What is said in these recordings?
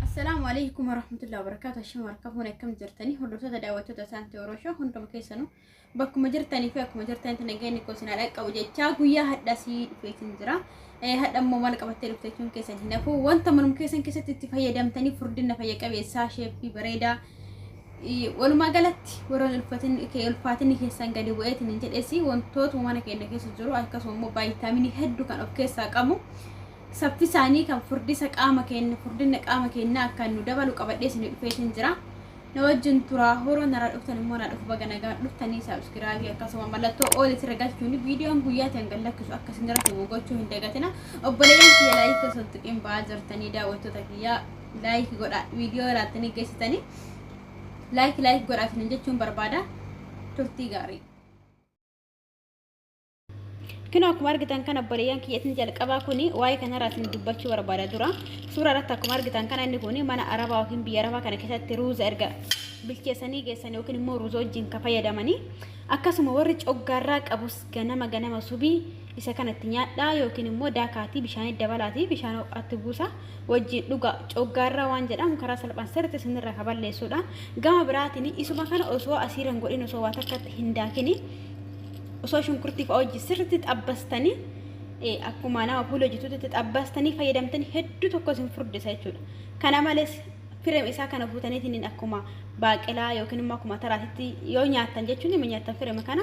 Assalaamu alaikum warahmatullahi wabarakatuh. Ashamu harka fuune akkam jirtanii hordoftoota daawwattoota isaanti Oroshoo hunduma keessanuu bakkuma jirtanii fi akkuma jirtanitti nageenyi koo sinaa dhaqqabu jechaa guyyaa hadhaa sii dhufeetiin jira. Hadha immoo maal qabattee dhufteechuun keessan hin hafu wanta manum keessan keessatti itti fayyadamtanii furdina fayya qabeessaa sheeffii bareedaa Walumaa galatti warra ulfaatinni keessan gadi bu'eetiin hin jedhes wantoota mana keenya keessa jiru akkasuma immoo baayitaaminii hedduu kan of keessaa qabu saffisaanii kan furdisa qaama keenya furdina qaama keenya akka nu dabalu qabadhee isin dhufeetiin jira. Na wajjin turaa horoo nara dhuftan immoo na dhufu baga nagaan dhuftanii saabskiraabii akkasuma mallattoo ool itti ragachuun viidiyoon guyyaa ta'an gad lakkisu akka isin irratti gochuu hin dagatina obboleeyyan kiyya laayii keessatti tuqiin ba'aa jirtanii daawwattoota kiyyaa like godha video ilaaltanii geessitanii like like godha isinin jechuun barbaada turtii gaarii Kino akkuma argitan kana obboleeyyan kiyyatiin jalqabaa kuni waa'ee kanarraa isin dubbachuu barbaada dura. Suuraa irratti akkuma argitan kana inni kuni mana arabaa yookiin biyya arabaa kana keessatti ruuza erga bilcheessanii geessan yookiin immoo ruuza wajjin ka fayyadamanii akkasuma warri coggaarraa qabus ganama ganama subii Isa kana itti nyaadhaa yookiin immoo daakaatii bishaanitti dabalaatii bishaan ho'aatti buusaa wajjiin dhugaa. Coggaarraa waan jedhamu karaa salphaan sirriitti isinirraa ka balleessuudha. Gama biraatiin isuma kana osoo asiira hin godhin osoo waa takkatti hin daakin osoo shunkurtii fa'a wajjin sirriitti xabbastanii eh, akkuma nama puulii hojjetutti itti xabbastanii fayyadamtanii hedduu tokko isin furdisa jechuudha. Kana malees firem isaa kana fuutaniitiin akkuma baaqelaa yookiin immoo akkuma taraatitti yoo nyaattan jechuun ima nyaattan firema kana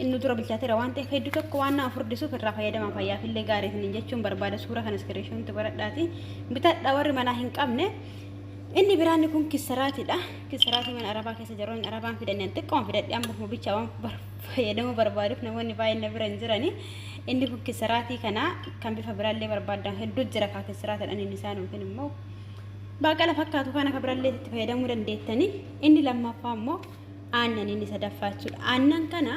Inni dura bilchaateera waan ta'eef hedduu tokko waan nama furdisuuf irraa fayyadamaa fayyaaf illee gaarii isiniin jechuun barbaada suuraa kana iskiriishoonti godhadhaati bitadha warri manaa hin qabne. Inni biraanni kun kisaraatidha. Kisaraatii mana arabaa keessa jiru inni arabaan fidannaan xiqqoon fidadhe amma ofuma bichaa waan fayyadamuu barbaaduuf namoonni baay'een na bira hin jirani. Inni kun kisaraatii kana kan bifa biraallee barbaadan hedduu jira kaa kisaraatidha inni isaan yookiin immoo baaqala fakkaatu kan akka biraallee itti fayyadamuu dandeettani. Inni lammaffaa immoo aannan inni sadaffaa jechuudha. Aannan kana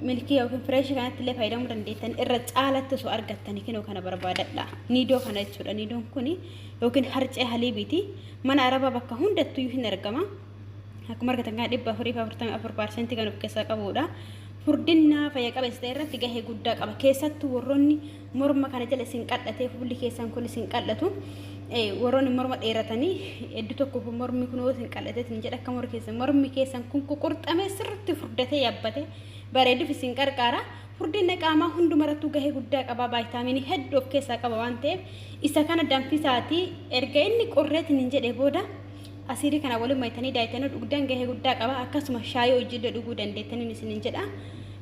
milkii yookiin fireeshii kanatti illee fayyadamuu dandeettan irra caalatti osoo argattanii kinoo kana barbaadadha. Niidoo kana jechuudha. Niidoon kun yookiin harcee haliibiiti. Mana arabaa bakka hundattuu hin argama. Akkuma argatan kana dhibba afurii fi afurtamii afur paarsentii kan of keessaa qabudha. Furdinaa fayya qabeessa ta'e irratti gahee guddaa qaba. Keessattuu warroonni morma kana jala isin qal'atee fuulli keessan kun isin qal'atu warroonni morma dheeratanii hedduu tokko mormi kun isin qal'atee isin jedha akka mormi keessan mormi keessan kun ququrxamee sirriitti furdatee yabbate bareeduuf isin qarqaara furdina qaamaa hundumarrattuu gahee guddaa qaba vaayitaaminii hedduu of keessaa qaba waan ta'eef isa kana danfisaatii erga inni qorreetiin hin jedhe booda Asiirii kana waliin maytanii daayitanii dhugdan gahee guddaa qaba. Akkasuma shaayii hojiillee dhuguu dandeettaniin isiniin jedha.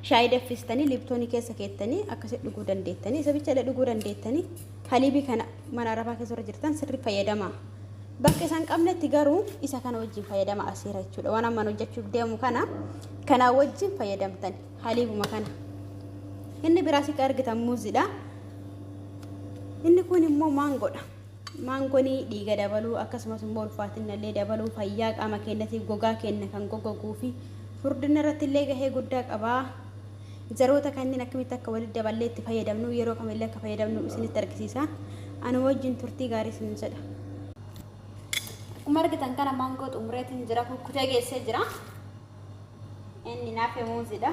Shaayii daffistanii liiptoonii keessa keettanii akkasitti dhuguu dandeettanii. Isa bichallee dhuguu dandeettanii. Haliibii kana mana arabaa keessa warra jirtan sirri fayyadama. Bakka isaan qabnetti garuu isa kana wajjin fayyadama asiira jechuudha. Waan amman hojjechuuf deemu kana kanaa wajjin fayyadamtan haliibuma kana. Inni biraas akka argitan muuziidha. Inni kun immoo maangoodha. Maangoni dhiiga dabaluu akkasumas immoo ulfaatinna illee dabaluu fayyaa qaama keenyatiif gogaa keenya kan goggoguu fi furdinna irratti illee gahee guddaa qaba. Zaroota kanneen akkamitti akka walitti daballee itti fayyadamnu yeroo kam illee akka fayyadamnu isinitti argisiisa. Anuu wajjin turtii gaarii isiniin jedha. Akkuma argitan kana maangoo xumureetiin jira kukkutee geessee jira. Inni naaf muuziidha.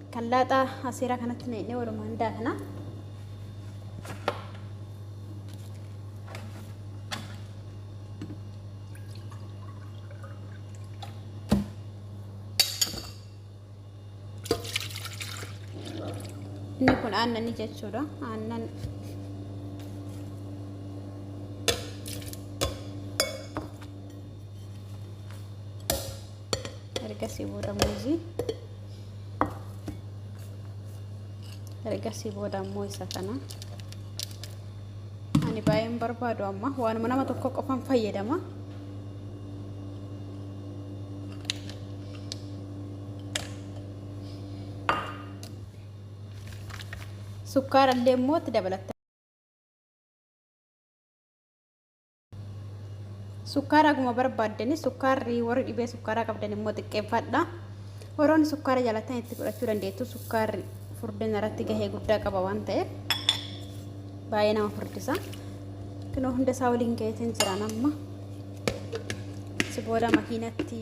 Kan laaxaa aseeraa kanatti naqnee walumaan daakna. Inni kun aannanii jechuudha. Aannan ergasii booda muuzii ergasii booda ammoo isa kana ani baay'een barbaadu amma waanuma nama tokko qofan fayyadama sukkaara illee immoo itti dabalatta Sukkaara haguma barbaaddani sukkaarri warri dhibee sukkaaraa qabdan immoo xiqqeeffadha. Warroonni sukkaara jaalatan itti fudhachuu dandeettu sukkaarri furdina irratti gahee guddaa qaba waan ta'eef baay'ee nama furdisa. Kunoo hunda isaa waliin gaheetiin jiraan amma si booda makiinatti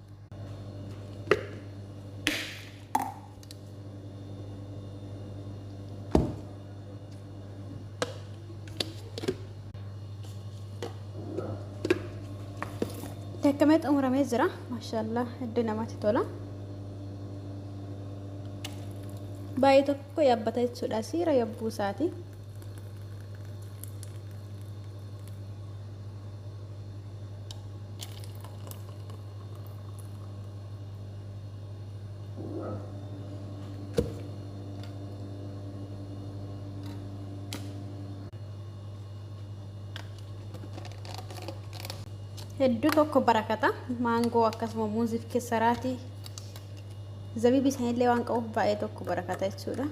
Dakkamee xumuramee jira. Maashaallah hedduu namatti tola. Baay'ee tokko yaabbata jechuudha. Siira yabbuu isaati. hedduu tokko barakata maangoo akkasuma muuziif keessaraatii zabibi isaanillee waan qabuuf baay'ee tokko barakata jechuudha.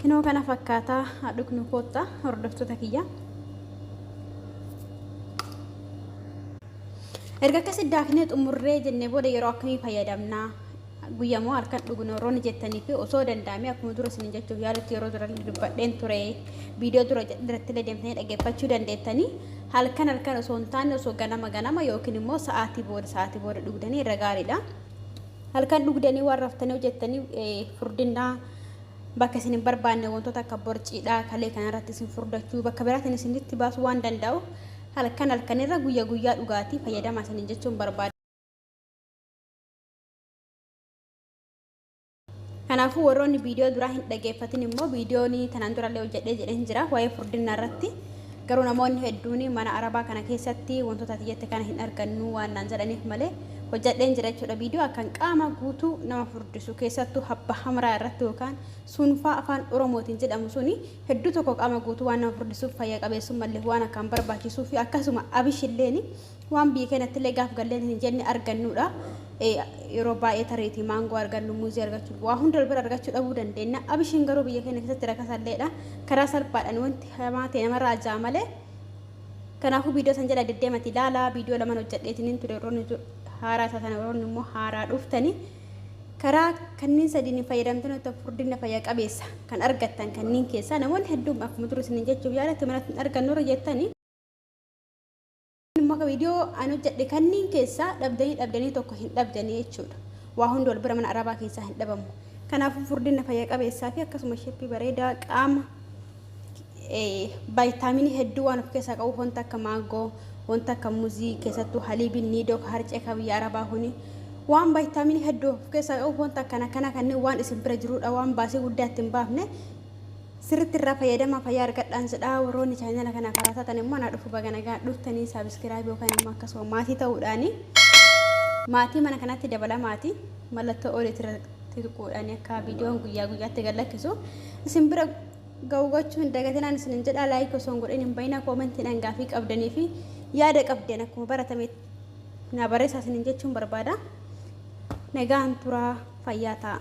Kinoo kana fakkaataa haa dhugnu kootta hordoftoota kiyya. Erga akkasi daaknee xumurree jennee booda yeroo akkamii fayyadamna? Guyyaa moo halkan dhugnu warroonni jettanii fi osoo danda'amee akkuma dura isin jechuuf yaalutti yeroo dura dubbadheen ture viidiyoo dura irratti illee deemtanii dhaggeeffachuu dandeettanii halkan halkan osoo hin taane osoo ganama ganama yookiin immoo sa'aatii booda sa'aatii booda dhugdanii irra gaariidha. Halkan dhugdanii waan raftanii hojjettanii furdinnaa bakka isin hin barbaanne wantoota akka borciidhaa kalee kanarratti isin furdachuu bakka biraatiin isinitti baasuu waan danda'u halkan halkanirra guyya guyyaa dhugaatii fayyadamaa isiniin jechuun barbaada. Kanaafuu warroonni viidiyoo duraa hin dhageeffatin immoo viidiyoon tanaan durallee hojjedhee jedheen jira waa'ee furdinna irratti garuu namoonni hedduun mana arabaa kana keessatti wantoota ati jette kana hin argannu waan naan jedhaniif malee hojjadheen jira jechuudha viidiyoo akkan qaama guutuu nama furdisu keessattuu habba hamraa irratti yookaan suunfaa afaan oromootiin jedhamu suni hedduu tokko qaama guutuu waan nama furdisuuf fayya qabeessummallee waan akkaan barbaachisuu fi akkasuma abishilleen waan biyya keenyattillee gaaf galleen hin jenne argannuudha yeroo baay'ee tareetii maangoo argannu muuzii argachuu waa hunda bira argachuu dhabuu dandeenya abishiin garuu biyya keenya keessatti rakasalleedha karaa salphaadhaan wanti hamaa ta'e namarraa ajaa malee Kanaafuu viidiyoo san jala deddeemati ilaalaa viidiyoo laman hojjadheetinin ture warroonni haaraa taatan warroonni immoo haaraa dhuftani karaa kanniin sadiin fayyadamtanii ottan furdinna fayya qabeessa kan argattan kanniin keessaa namoonni hedduun akkuma dura isinin jechuuf yaala timanatti hin argannu irra jettani immoo akka viidiyoo an hojjadhe kanniin keessaa dhabdanii dhabdanii tokko hin dhabdanii jechuudha waa hundi wal bira mana arabaa keessaa hin dhabamu kanaafuu furdinna fayya qabeessaa fi akkasuma sheppii bareedaa qaama vaayitaaminii hedduu waan of keessaa qabu wanta akka maangoo wanta akka muzii keessattuu haliibiin niidoo ka harcee ka biyya arabaa kuni waan vaayitaaminii hedduu of keessaa qabu wanta akkana kana kanneen waan isin bira jirudha waan baasii guddaa ittiin baafne sirritti irraa fayyadamaa fayyaa argadhaan jedhaa warroonni chaayinala kana karaa taatan immoo naa dhufu baga nagaa dhuftanii saabiskiraayib yookaan immoo akkasuma maatii ta'uudhaani maatii mana kanatti dabala maatii mallattoo oliitirratti tuquudhaani akka viidiyoon guyyaa guyyaatti gad lakkisu isin bira ga'u gochuu hin dagatinaan isinin jedha laayik osoo hin godhin hin bayina koomentiidhaan gaafii qabdanii fi yaada qabdan akkuma baratame naa barreessaa isinin jechuun barbaada nagaan turaa fayyaa ta'a.